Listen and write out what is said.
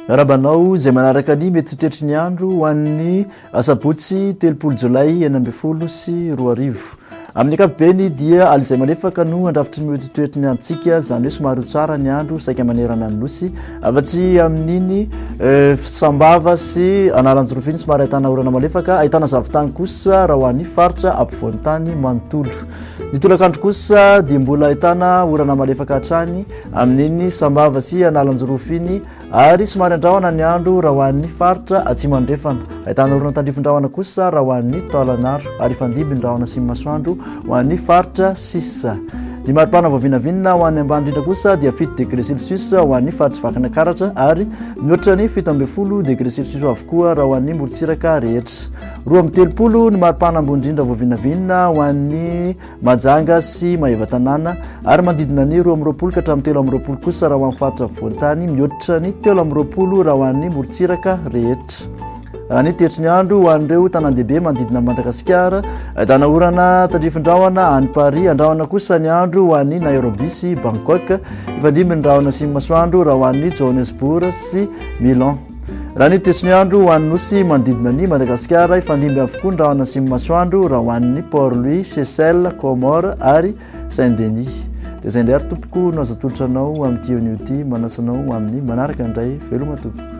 Miarahaba anao izay manaraka ny mety toetry ny andro ho an'ny asabotsy telopolo jolay enina ambin'ny folo sy roa arivo. Amin'ny ankapobeny dia aly izay malefaka no andrafitry ny mety toetry ny androntsika, izany hoe somary ho tsara ny andro saika manerana ny nosy. Afa-tsy amin'iny sambava sy anaranjorofiny somary ahitana orana malefaka, ahitana zavon-tany kosa raha ho an'ny faritra ampovoan-tany manontolo. Ny tolakandro kosa dia mbola ahitana orana malefaka hatrany amin'iny sambava sy analanjorofo iny ary somary andrahona ny andro raha ho an'ny faritra atsimo andrefana. Ahitana orana tandrifin-drahona kosa raha ho an'ny taolan'aro ary hifandimby ny rahona sy ny masoandro ho an'ny faritra sisa. Ny maripana voavinavinina ho an'ny ambany indrindra kosa dia fito degré celsius ho an'ny faritry Vakinakaratra ary mihoatra ny fito ambin'ny folo degré celsius avokoa raha ho an'ny morontsiraka rehetra. Roa amby telopolo ny maripana ambony indrindra voavinavinina ho an'ny Mahajanga sy Maeva tanàna ary manodidina ny roa amby roapolo ka hatramin'ny telo amby roapolo kosa raha ho an'ny faritra afovoan-tany, mihoatra ny telo amby roapolo raha ho an'ny morontsiraka rehetra. Raha ny toetry ny andro ho an'ireo tanàn-dehibe manodidina an'i Madagasikara, ahitana orana tandrifin-drahona any Paris, andrahona kosa ny andro ho an'i Nairobi sy Bangkok, hifandimby ny rahona sy ny masoandro raha ho an'i Johannesburg sy Milan. Raha ny toetry ny andro ho an'ny nosy manodidina ny Madagasikara, hifandimby avokoa ny rahona sy ny masoandro raha ho an'ny Port Louis, Seychelles, Comores ary Saint Denis. Dia izay indray ary tompoko no azo atolotra anao amin'ity onio ity, manasa anao amin'ny manaraka indray veloma tompoko.